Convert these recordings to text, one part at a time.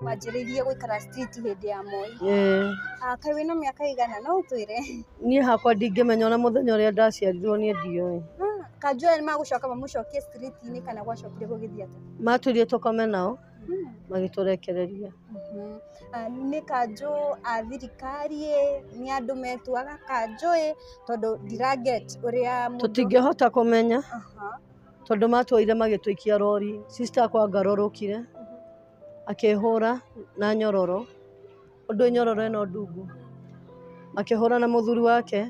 wanjĩrĩirie gũikara street hĩndĩ ya Moi. Ah, Kaĩ wĩna mĩaka ĩigana no ũtwĩre? Niĩ hakwa ndingĩmenya ona mũthenya ũrĩa ndaciarirwo niĩ ndiũĩ. Ah, Kanjũra nĩ magũcoka mamũcokie street-inĩ kana gwacokire gũgĩthiĩ atĩa? Matwĩrire tũkome nao hmm. magĩtũrekereria. Mhm. Ah, nĩ kanjũ a thirikari ĩ, nĩ andũ metuaga kanjũ ĩ, tondũ ndiraget ũrĩa mũndũ... Tũtingĩhota kũmenya. tondũ matuoire magĩtũikia rori, sister akwa angarũrũkire akĩhũra na nyororo, ũndũ nyororo ĩno ndungu, makĩhũra na mũthuri wake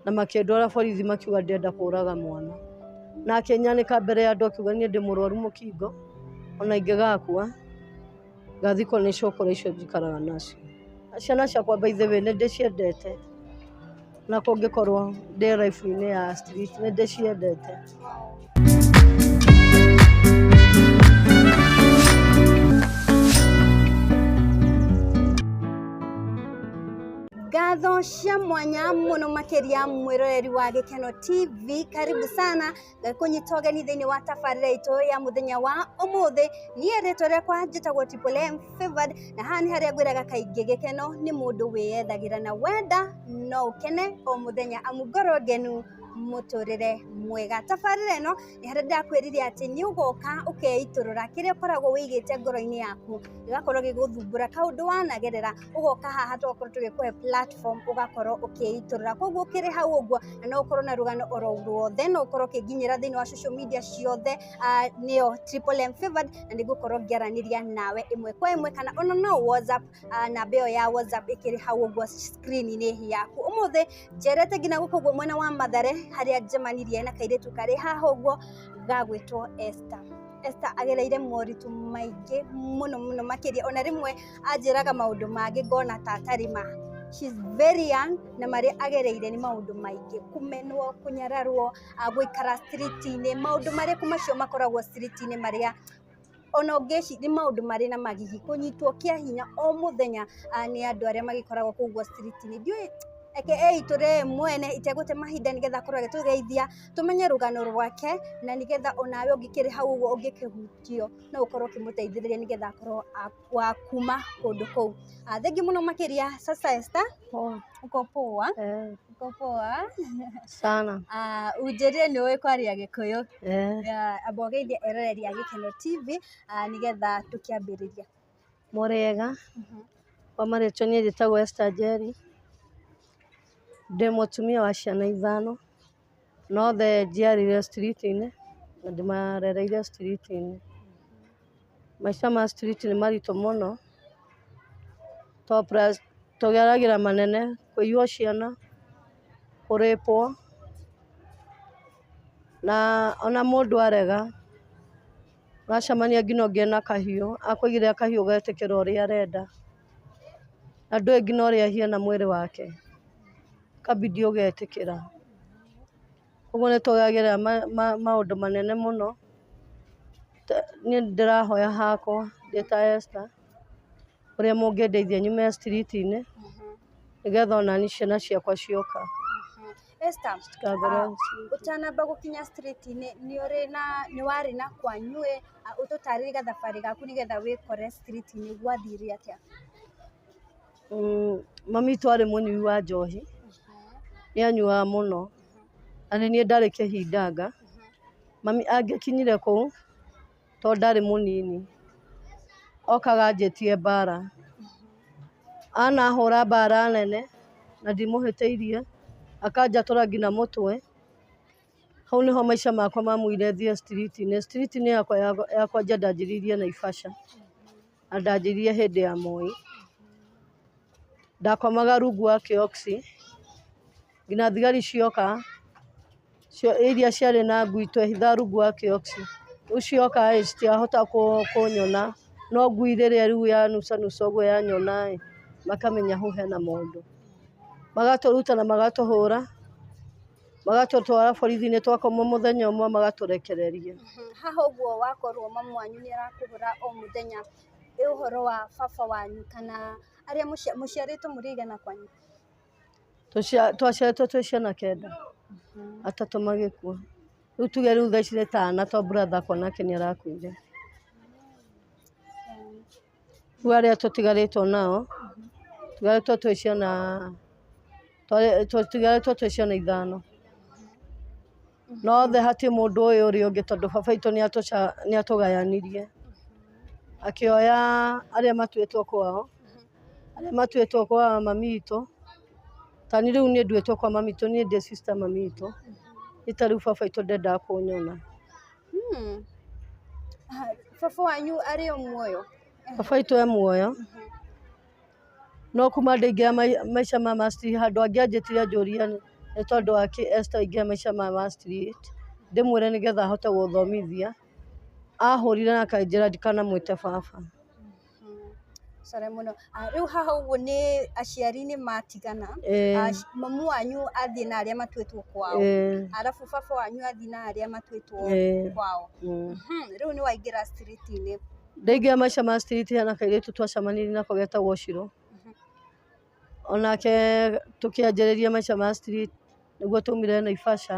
na makĩndwara borithi makiuga ndĩrenda kũraga mwana, na akĩnyanĩka mbere ya andũ akiuga niĩ ndĩ mũrwaru mũkingo ona ingĩgakua. Ngathiĩ kũu nĩ cũkũrũ icio njikaraga nacio. Ciana ciakwa by the way nĩ ndĩciendete, ona kũngĩkorwo ndĩ life -inĩ ya street nĩ ndĩciendete. Ngatho cia mwanya mũno makĩria mwĩroreri wa Gĩkeno TV, karibu sana kũnyita ũgeni thĩinĩ wa tabarĩra itũ ya mũthenya wa ũmũthĩ niĩ rĩtwa rĩakwa njĩtagwo Triple M Favored na haha nĩ harĩa ngwĩraga kaingĩ gĩkeno nĩ mũndũ wĩyethagĩra na wenda no ũkene o mũthenya amu ngoro ngenu mũtũrĩre mwega tabarĩra ĩno nĩ harĩa ndakwĩrire atĩ nĩ ũgoka ũkeitũrũra kĩrĩa ũkoragwo wĩigĩte ngoro-inĩ yaku gĩgakorwo gĩgũthumbũra kaũndũ wanagerera ũgoka haha tokorwo tũgĩkũhe platform ũgakorwo ũkĩitũrũra koguo ũkĩrĩ hau ũguo na no ũkorwo na rũgano oro ruothe no ũkorwo ũkĩnginyĩra thĩinĩ wa social media ciothe ah, nĩyo Triple M Favored na nĩngũkorwo ngĩaranĩria nawe ĩmwe kwa ĩmwe kana ona no whatsapp ah, namba ĩyo ya whatsapp ĩkĩrĩ hau ũguo screen-inĩ yaku ũmũthĩ njerete nginya gũkũ ũguo mwena wa mathare harĩa njemanirie na kairĩtu karĩ haha ũguo gagwĩtwo Esther Esther agereire moritũ maingĩ mũno mũno makĩria ona rĩmwe anjĩraga maũndũ mangĩ ngona ta atarĩ ma. She is very young na marĩa agereire nĩ maũndũ maingĩ, kũmenwo, kũnyararwo, gũikara street -inĩ, maũndũ marĩkũ macio makoragwo street -inĩ marĩa ona ũngĩciria nĩ maũndũ marĩ na magigi, kũnyitwo kĩa hinya o mũthenya nĩ andũ arĩa magĩkoragwo kũu ũguo street -inĩ. Ndiũĩ, reke eitũre we mwene itegũte mahinda nĩ getha akorwo agĩtũgeithia tũmenye rũgano rwake na nĩ getha onawe ũngĩkĩrĩ hau ũguo ũngĩkĩhutio no ũkorwo ũkĩmũteithĩrĩria nĩ getha akorwo a... wa kuma kũndũ kũu. Thengiũ mũno makĩria sasa Esther. Poa. Uko poa? Eh. Uko poa? Sana. Uh, unjĩrire nĩ ũĩ kwaria gĩkũyũ. Eh. Uh, amba ũgeithie eroreri a Gĩkeno TV uh, nĩgetha tũkĩambĩrĩria. Mũrĩega. Mm -hmm. Kwa marĩtwa niĩ njĩtagwo Esther Njeri. Ndĩ mũtumia wa ciana ithano. Nothe njiarĩire street -inĩ, na ndĩmarereire street -inĩ. Maica ma street nĩ maritũ mũno, to plus tũgeragĩra manene, kũiywo ciana, kũ rape -wo, na ona mũndũ arega, ũracemania nginya ũngĩ ena kahiũ, akũigĩrĩra kahiũ ũgetĩkĩra ũrĩa arenda. na ndũĩ nginya ũrĩa ahiana mwĩrĩ wake, ũkambindi ũgetĩkĩra, ũguo nĩ tũgeragĩra maũndũ manene mũno, niĩ nĩ ndĩrahoya hakwa ndĩ ta Esther, ũrĩa mũngĩndeithia nyume street -inĩ, nĩgetha o naniĩ ciana ciakwa cioka. Esther, ũtanamba gũkinya straight -inĩ nĩ ũrĩ na, nĩ warĩ na kwanyu ĩ, ũtũtarĩrie gathabarĩ gaku nĩgetha wĩkore street -inĩ gwathire atĩa? Mami witũ arĩ mũnyui wa njohi, nĩ anyuaga mũno, na nĩ niĩ ndarĩ kĩhindanga, mami angĩkinyire kũu... to ndarĩ mũnini, okaga anjĩtie mbara, anahũra mbara nene na ndimũhĩtĩirie, akanjatũra nginya mũtwe, hau nĩho maica makwa mamumire thiĩ street -inĩ, street -inĩ yakwa ya kwanja ndanjirie Naivasha, na ndanjirie hĩndĩ ya Moi, ndakomaga rungu wa kĩoski. nginya thigari cioka, iria ciarĩ na ngui twehitha rungu wa kĩoski, rĩu cioka ĩ citiahota kũnyona, no ngui rĩrĩa rĩu yanucanuca ũguo yanyona ĩ makamenya hau hena mũndũ, magatũruta na magatũhũra, magatũtwara borithi-inĩ twakoma mũthenya ũmwe magatũrekereria. Haha ũguo wakorwo mamu wanyu nĩ arakũhũra o mũthenya, he ũhoro wa baba wanyu kana arĩa mũciarĩtwo mũrĩ aigana kwanyu? Twaciarĩtwo twĩ ciana kenda, atatũ magĩkua, rĩu tuge rĩu thaa ici nĩ ta ana to brother akwa nake nĩ arakuire, rĩu arĩa tũtigarĩtwo nao, tũtigarĩtwo twĩ ciana, tũtigarĩtwo twĩ ciana ithano. no othe hatirĩ mũndũ ũyũ ũrĩa ũngĩ tondũ baba witũ nĩ atũgayanirie, akĩoya arĩa matuĩtwo kwao, arĩa matuĩtwo kwa mami witũ, ta niĩ rĩu nduĩtwo kwa mami witũ, niĩ ndĩ sister mami witũ, niĩ ta rĩu baba witũ ndendaga kũnyona. Baba wanyu arĩ o muoyo? Baba witũ e muoyo. No kuuma ndĩingĩra maica ma Mastery handũ angĩ anjĩtire anjũria nĩ tondũ wa kĩĩ Esther aingĩra maica ma Mastery ndĩmwĩre nĩ getha ahote gũthomithia, ahũrire na akanjĩra ndikanamwĩte baba. Rĩu haha ũguo nĩ aciari nĩ matigana, mamu wanyu athiĩ na arĩa matuĩtwo kwao, arabu baba wanyu athiĩ na arĩa matuĩtwo kwao, rĩu nĩ waingĩra street -inĩ. Ndaingĩra maica ma street hena kairĩtu twacemanirie nako getagwo Shiro, onake tũkĩanjĩrĩria maica ma street nĩguo twaumire Naivasha,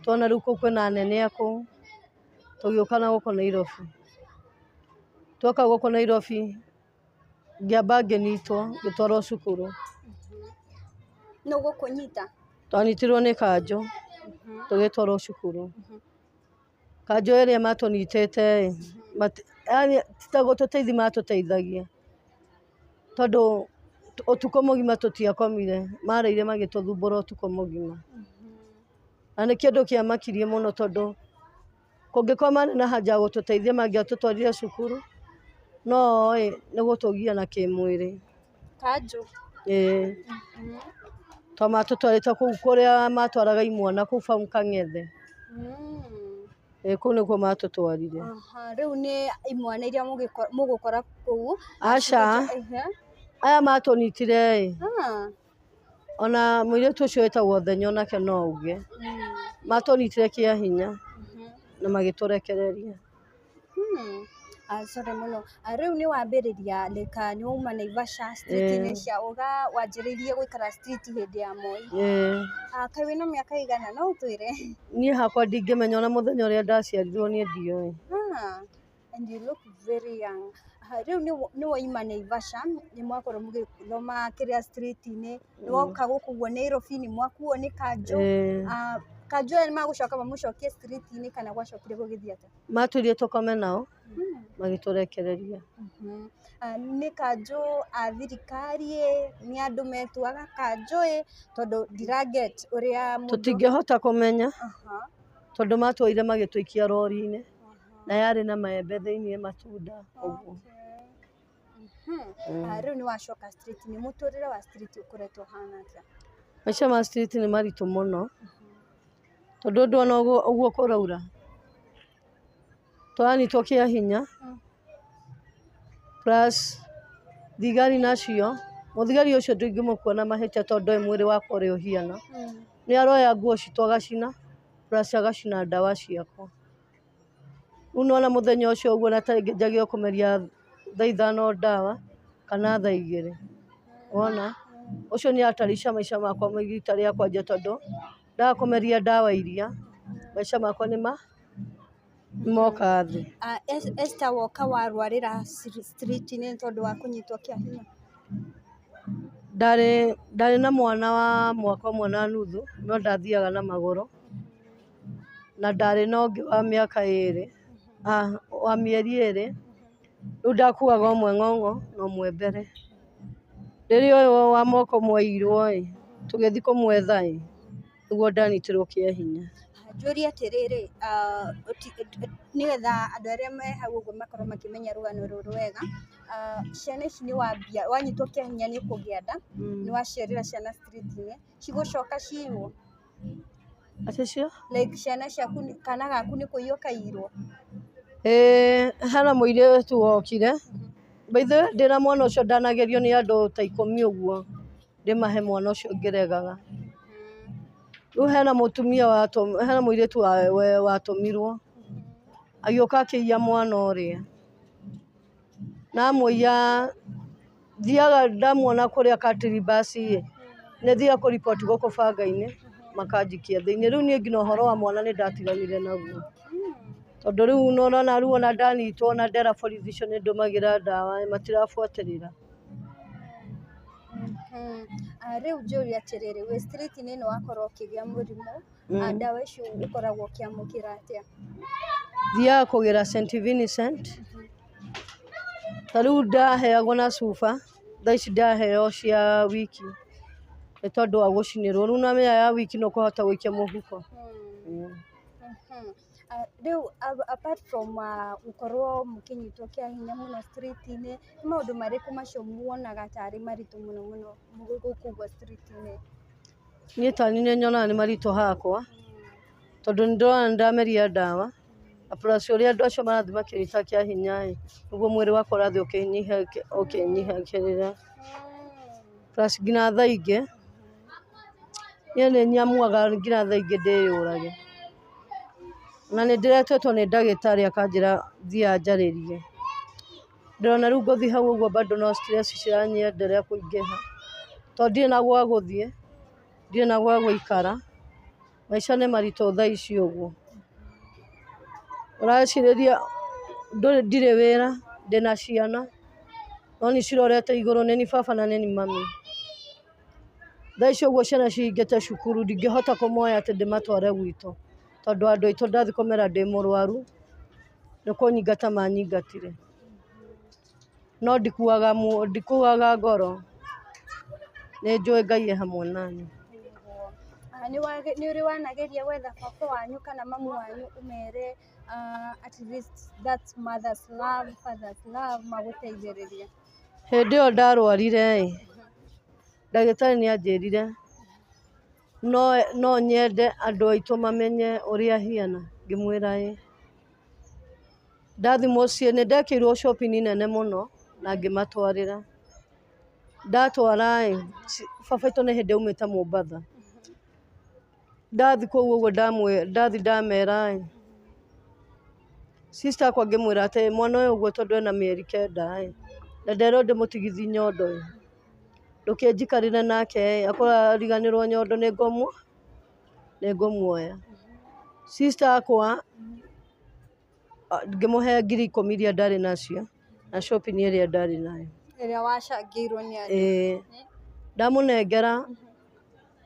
tuona rĩu kũu kwĩna anene a kũu, tũgĩũka na gũkũ Nairobi. Twoka gũkũ Nairobi, ngĩamba ngĩnyitwo ngĩtwarwo cukuru. Nũ gũkũnyita? Twanyitirwo nĩ kanjũ tũgĩtwarwo cukuru. Kanjũ ĩrĩa matũnyitĩte ĩ, yaani ti ta gũtũteithia matũteithagia, tondũ ũtukũ mũgima tũtiakomire, marĩire magĩtũthumbũra ũtukũ mũgima, na nĩ kĩndũ kĩamakirie mũno tondũ kũngĩkorwo marĩ na haja ya gũtũteithia mangĩatũtwarire cukuru, no oĩ nĩ gũtũgia na kĩmwĩrĩ. Kanjũ? Eeh tondũ matũtwarĩte kũu kũrĩa matwaraga imwana kũu bau Kang'ethe, eeh kũu nĩkuo matũtwarire. Rĩu nĩ imwana iria mũgũkora kũu? Aca, aya matũnyitire-ĩ, ona mũirĩtu ũcio wĩtagwo Thenya onake no auge, matũnyitire kĩa hinya na magĩtũrekereria. Sorry mũno, rĩu nĩ wambĩrĩria rĩ kana nĩ wauma Naivasha street -inĩ cia ũga wanjĩrĩirie gũikara street hĩndĩ ya Moi? Kaĩ wĩna mĩaka ĩigana no ũtwĩre? Niĩ hakwa ndingĩmenya ona mũthenya ũrĩa ndaciarirwo niĩ ndiũĩ. And you look very young. Rĩu nĩ wauma Naivasha nĩ mwakorwo mũgĩthoma kĩrĩa street -inĩ? nĩwoka gũkũ ũguo Nairobi-inĩ mwakuo nĩ kanjũ Ĩĩ. ah, kanjũ aya nĩmagũcoka mamũcokie street-inĩ kana gwacokire gũgĩthiĩ atĩa matwĩrire tũkome nao magĩtũrekereria Mhm. Ah, nĩ kanjũ a thirikari ĩ, nĩ andũ metuaga kanjũ ĩ tondũ ndiraget ũrĩa mũndũ- tũtingĩhota kũmenya Aha, tondũ matwoire magĩtũikia rori-inĩ aha. na yarĩ na maembe thĩinĩ matunda ũguo okay. Mhm. Ah, rĩu nĩ wacoka street nĩ mũtũrĩre wa street ũkoretwo ũhana atĩa maica ma street nĩ maritũ mũno tondũ ũndũ ona ũguo ũguo kũraura tũranyitwo kĩa hinya plus thigari nacio mũthigari ũcio ndũingĩmũkuona mahĩtia tondũ ndoĩ mwĩrĩ wakwa ũrĩa ũhiana nĩ aroya nguo citũ agacina plus agacina ndawa ciakwa Rĩu nĩwona mũthenya ũcio ũguo ona ta rĩngĩ njagĩrĩirwo kũmeria thaa ithano ndawa kana thaa igĩrĩ, wona? Ũcio nĩ hatarishi maica makwa ma rita rĩa kwanja tondũ ndaga kũmeria ndawa iria, maica makwa nĩ ma, nĩ moka thĩ. Esther woka warwarĩra street inĩ nĩ tondũ wa kũnyitwo kĩa hinya? Ndarĩ, ndarĩ na mwana wa mwaka ũmwe na nuthu, no ndathiaga na magũrũ. na ndarĩ na ũngĩ wa mĩaka ĩrĩ, wa mĩeri ĩrĩ, rĩu ndakuaga ũmwe ng'ong'o na ũmwe mbere, rĩrĩa ũyũ wa moko mwaiyirwo ĩ, tũgĩthiĩ kũmwetha ĩ, nĩguo ndanyitirwo kĩa hinya. Njũrie atĩrĩrĩ, nĩgetha andũ arĩa me hau ũguo makorwo makĩmenya rũgano rũrũ wega, ciana ici nĩ wambia, wanyitwo kĩa hinya nĩ kũgĩa nda, nĩ waciarĩra ciana street -inĩ, cigũcoka ciiywo? Atĩ cio? Like ciana ciaku nĩ- kana gaku nĩ kũiywo kaiyirwo? Ĩĩ hena mũirĩtu wokire, by the way ndĩna mwana ũcio ndanagerio nĩ andũ ta ikũmi ũguo ndĩmahe mwana ũcio ngĩregaga. Rĩu hena mũtumia watũ- hena mũirĩtu wa- we- watũmirwo agĩũka akĩiya mwana ũrĩa. namũiya thiaga ndamuona kũrĩa cattle bus ĩ nĩ thiaga kũ report gũkũ banga-inĩ makanjikia thĩinĩ, rĩu niĩ nginya ũhoro wa mwana nĩ ndatiganire naguo, tondũ rĩu nĩ ũrona rĩu ona ndanyitwo ona ndera borithi icio nĩ ndũmagĩra ndawa ĩ matirabuatĩrĩra. Rĩu njũrie atĩrĩrĩ wĩ street -inĩ nĩ wakorwo ũkĩgĩa mũrimũ Ndawa icio ũkoragwo ũkĩamũkĩra atĩa? Thiaga kũgĩra St. Vincent, ta rĩu ndaheagwo na cuba, thaa ici ndĩraheo cia wiki, nĩ tondũ wa gũcinĩrwo, rĩu na ĩyo ya wiki nĩ ũkũhota gũikia mũhuko. Rĩu apart from gũkorwo mũkĩnyitwo kĩa hinya mũno street -inĩ, nĩ maũndũ marĩkũ macio muonaga tarĩ maritũ mũno mũno gũkua street -inĩ? Niĩ tani nĩ nyonaga nĩ maritũ hakwa, tondũ nĩ ndĩrona nĩ ndameria ndawa, na plus ũrĩa andũ acio marathiĩ makĩnyiitaga kĩa hinya ĩ, noguo mwĩrĩ wakwa ũrathiĩ ũkĩnyihagĩrĩra. Plus nginya thaa ingĩ, niĩ nĩ nyamuaga nginya thaa ingĩ ndĩyũrage. Na nĩ ndĩretwo nĩ ndagĩtarĩ akanjĩra thiaga njarĩrie. Ndĩrona rĩu ngũthiĩ hau ũguo bado no stress ciranyenderea kũingĩha, tondũ ndirĩ na gwa gũthiĩ, ndirĩ na gwa gũikara, maica nĩ maritũ thaa ici ũguo, ũracirĩria ndirĩ wĩra, ndĩna ciana, no nĩ cirorete igũrũ, nĩ niĩ baba na nĩ niĩ mami, thaa ici ũguo ciana cihingĩte cukuru, ndingĩhota kũmoya atĩ ndĩmatware gwitũ. tondũ andũ aitũ ndathiĩ kũmera ndĩ mũrwaru, nĩ kũnyingata manyingatire, no ndikuaga ngoro, nĩ njũĩ Ngai e hamwe na niĩ. Nĩ ũrĩ wanageria gwetha baba wanyu kana mamu wanyu ũmere at least that's mother's love, father's love magũteithĩrĩrie? Hĩndĩ ĩyo ndarwarire-ĩ, ndagĩtarĩ nĩ anjĩrire. no nyende andũ aitũ mamenye ũrĩa ahiana, ngĩmwĩra ĩĩ, ndathiĩ mũciĩ nĩ ndekĩirwo shopping nene mũno na ngĩmatwarĩra, ndatwara ĩĩ baba witũ nĩ hĩndĩ aumĩte Mombatha, ndathiĩ kũu ũguo ndathiĩ ndamera ĩĩ, sister akwa ngĩmwĩra atĩ mwana ũyũ ũguo tondũ ena mĩeri kenda ĩĩ, na nderwo ndĩmũtigithie nyondo ĩĩ. ndũkĩ njikarĩre nake ĩ, akorwo ariganĩrwo nyondo nĩ ngũmũ, nĩ ngũmuoya. Sister akwa, ngĩmũhe ngiri ikũmi iria ndarĩ nacio, na shopping ĩrĩa ndarĩ nayo. Ĩrĩa wacangĩirwo nĩ andũ. Ĩĩ. Ndamũnengera,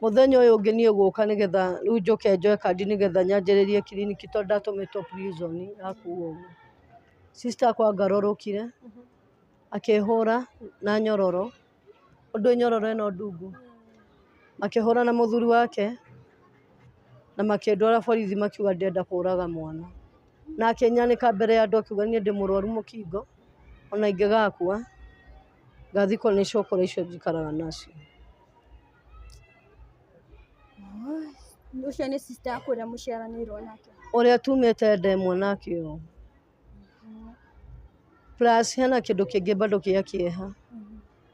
mũthenya ũyũ ũngĩ niĩ gũka nĩ getha rĩu njũke njoe kandi nĩ getha nyanjĩrĩrie kiriniki tondũ ndatũmĩtwo prison ya kuo ũguo. Sister akwa ngarũrũkire. akehũra na nyororo, ũndũ nyororo ĩno ndungu, akĩhũra na mũthuri wake na makĩndwara borithi makiuga ndĩrenda kũraga mwana, na akĩnyanĩka mbere ya andũ akiuga niĩ ndĩ mũrwaru mũkingo ona ingĩgakua ngathikwo nĩ cũkũrũ icio njikaraga nacio. Ũrĩa tumĩte ndemwa nake ũũ. Plus hena kĩndũ kĩngĩ bado gĩa kĩeha,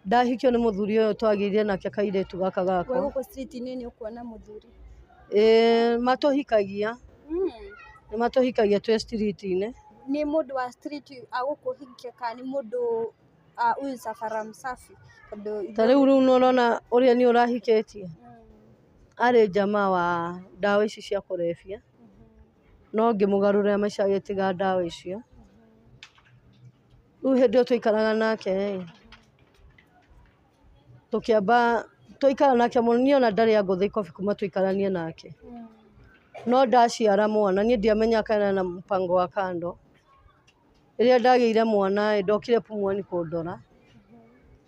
ndahikio nĩ mũthuri ũyũ twagĩire nake kairĩtu gaka gakwa. Wĩ gũkũ street -inĩ nĩ ũkuona mũthuri? Ĩĩ matũhikagia, nĩ matũhikagia twĩ street -inĩ. Nĩ mũndũ wa street agũkũhikia kana nĩ mũndũ huyu Safara Msafi? Tondũ ithuĩ- Ta rĩu rĩu nĩ ũrona ũrĩa niĩ ũrahikĩtie, arĩ jamaa wa ndawa ici cia kũrebia. no ngĩmũgarũrĩra maica agĩtiga ndawa icio, rĩu hĩndĩ ĩyo twaikaraga nake ĩ, tũkĩamba, twaikara nake mũno, niĩ ona ndarĩ angũtha ikobĩ kuma tũikaranie nake, no ndaciara mwana niĩ ndiamenyaga kana ena mũbango wa kando. Rĩrĩa ndagĩire mwana ĩĩ, ndokire Pumwani kũndora,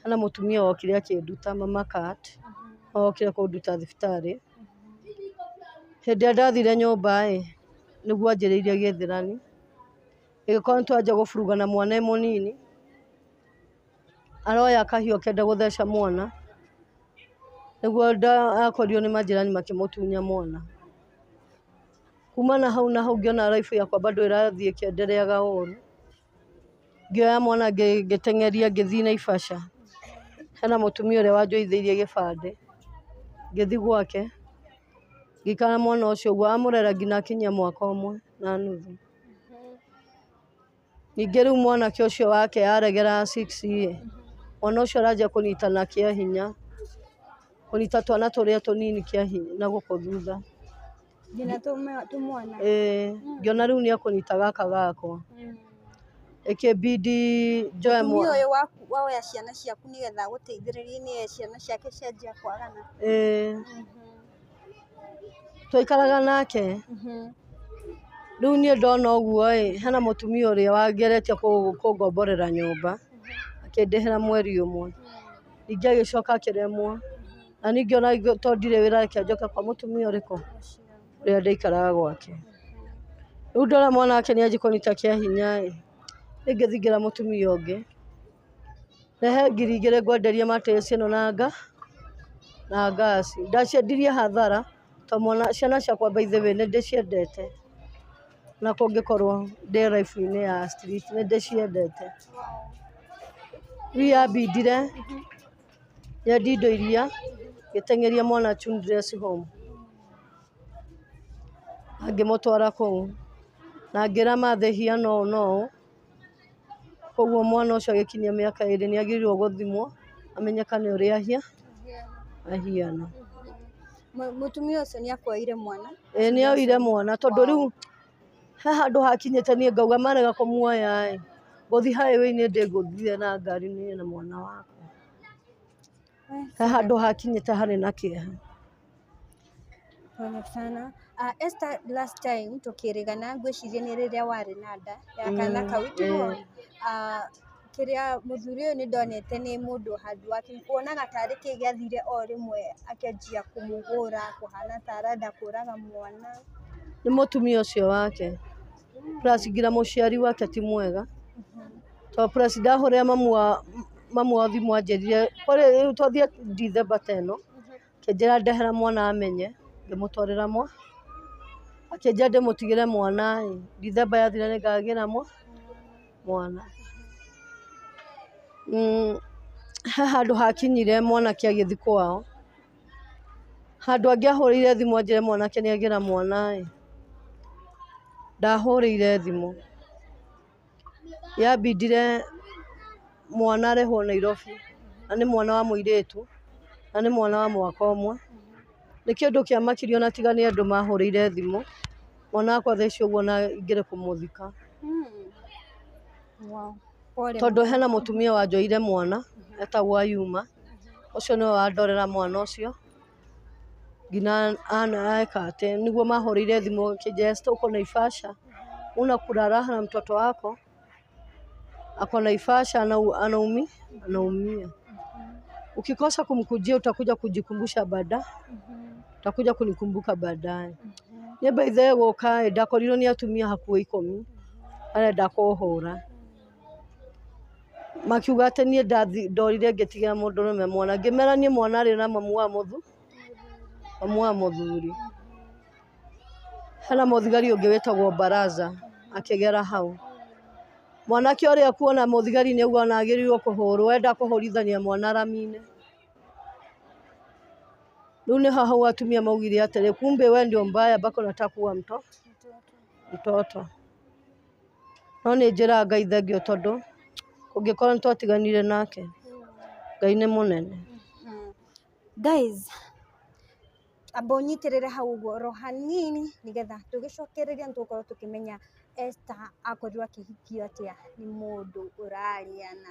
hena mũtumia wokire akĩnduta, mama cat, nĩ okire kũnduta thibitarĩ. Hĩndĩ ĩrĩa ndathire nyũmba ĩĩ, nĩguo anjĩrĩirie gĩthĩrani, ĩgĩkorwo nĩ twanjia gũburuga na mwana e mũnini, aroya kahiũ akĩenda gũtheca mwana, nĩguo akorirwo nĩ manjĩrani makĩmũtunya mwana. kuma na hau na hau ngĩona life yakwa bado ĩrathiĩ ĩkĩendereaga o ũguo, ngĩoya mwana ngĩteng'eria ngĩthiĩ Naivasha, hena mũtumia ũrĩa wanjoithĩirie gĩbandĩ, ngĩthiĩ gwake, ngĩikara na mwana ũcio ũguo, amũrera nginya akinyia mwaka ũmwe na nuthu. Ningĩ rĩu mwanake ũcio wake aregera wa six rĩ, mwana ũcio aranjia kũnyitana kĩa hinya, kũnyita twana tũrĩa tũnini kĩa hinya na gũkũ thutha, ĩĩ ngĩona rĩu nĩ ekũnyita gaka gakwa, ĩkĩbindi njoe mwana, ĩĩ. Twaikaraga nake, rĩu niĩ ndona ũguo ĩ, hena mũtumia ũrĩa wangeretie kũngomborera nyũmba, akĩndĩhĩra mweri ũmwe, ningĩ agĩcoka akĩremwo, na niĩ ngĩona to ndirĩ wĩra reke njoke kwa mũtumia ũrĩkũ, ũrĩa ndaikaraga gwake. Rĩu ndona mwanake nĩ anjia kũnyita kĩa hinya ĩ, nĩ ingĩthiĩ ngĩra mũtumia ũngĩ. Rehe ngiri igĩrĩ ngwenderie matĩs ĩno na nga na ngaci. Ndaciendirie hathara to mwana ciana ciakwa by the way nĩ ndĩciendete ona kũngĩkorwo ndĩ life inĩ ya street nĩ ndĩciendete. Rĩu yambindire nyendie indo iria ngĩteng'eria mwana childress home na ngĩmũtwara kũu na ngĩra mathe hiana ũũ na ũũ. Koguo mwana ũcio agĩkinyia mĩaka ĩrĩ nĩ agĩrĩirwo gũthimwo amenyekane ũrĩa ahia ahiana. Mũtumia ũcio nĩ akuaire mwana? Ĩĩ nĩ oire mwana tondũ rĩu he handũ hakinyĩte niĩ ngauga marega kũmuoya ĩ, ngũthiĩ highway inĩ ndĩngũthire na ngari niĩ na mwana wakwa. He handũ hakinyĩte harĩ na kĩeha. Pole sana. Esther last time tũkĩrĩgana ngwĩciria nĩ rĩrĩa warĩ na nda ya kana kau tiguo? Kĩrĩa mũthuri ũyũ nĩ ndonete nĩ mũndũ handũ wa kuonaga tarĩ kĩĩ gĩathire o rĩmwe akĩanjia kũmũhũra kũhana ta arenda kũraga mwana. Nĩ mũtumia ũcio wake. plus nginya mũciari wake ti mwega, tondũ plus ndahũrĩra mamu wa mamu wa thimũ anjĩrire rĩu twathiĩ December ta ĩno, akĩnjĩra ndehera mwana amenye, ngĩmũtwarĩra mwana, akĩnjĩra ndĩmũtigĩre mwana ĩ, December yathira nĩngagĩra mwana mwana, he handũ hakinyire mwanake agĩthiĩ kwao, handũ angĩahũrĩire thimũ anjĩre mwanake nĩ agĩra mwana ĩ, ndahũrĩire thimũ, yambindire mwana arehwo Nairobi na nĩ mwana wa mũirĩtu na nĩ mwana wa mwaka ũmwe, nĩ kĩndũ kĩamakirie ona tiga nĩ andũ mahũrĩire thimũ, mwana wakwa thaa ici ũguo na ngĩrĩ kũmũthika. tondũ hena mũtumia wanjoire mwana etagwo Ayuma, ũcio nĩwe wandorera mwana ũcio nginya eka atĩ, nĩguo mahũrĩire thimũ Esther uko Naivasha? Una kulala na mtoto wako? Ako Naivasha anaumia, ukikosa kumkujia utakuja kujikumbusha baadaye. Takuja kunikumbuka baadaye. Niĩ by the way gũka ĩ, ndakorirwo nĩ atumia hakuhĩ ikũmi arenda kũhũra. Makiuga atĩ niĩ ndathi ndorire ngĩtigĩra mũndũrũme mwana. Ngĩmera niĩ mwana arĩ na mamu wa mũthu, mamu wa mũthuri. Hena mũthigari ũngĩ wĩtagwo Baraza akĩgera hau. Mwanake ũrĩa kuona mũthigari nĩaugua ona agĩrĩirwo kũhũrwo, enda kũhũrithania mwana rami-inĩ. Rĩu nĩ haha hau atumia maugire atĩrĩ, kumbe we ndio mbaya mpaka unataka kuwa mto mtoto. No nĩ njĩra Ngai thengio tondũ kũngĩkorwo nĩ twatiganire nake, Ngai nĩ mũnene. Guys, amba ũnyitĩrĩre hau ũguo oro hanini nĩgetha tũgĩcokereria nĩ tũgũkorwo tũkĩmenya Esther akorirwo akĩhikio atĩa nĩ mũndũ ũrarĩa na.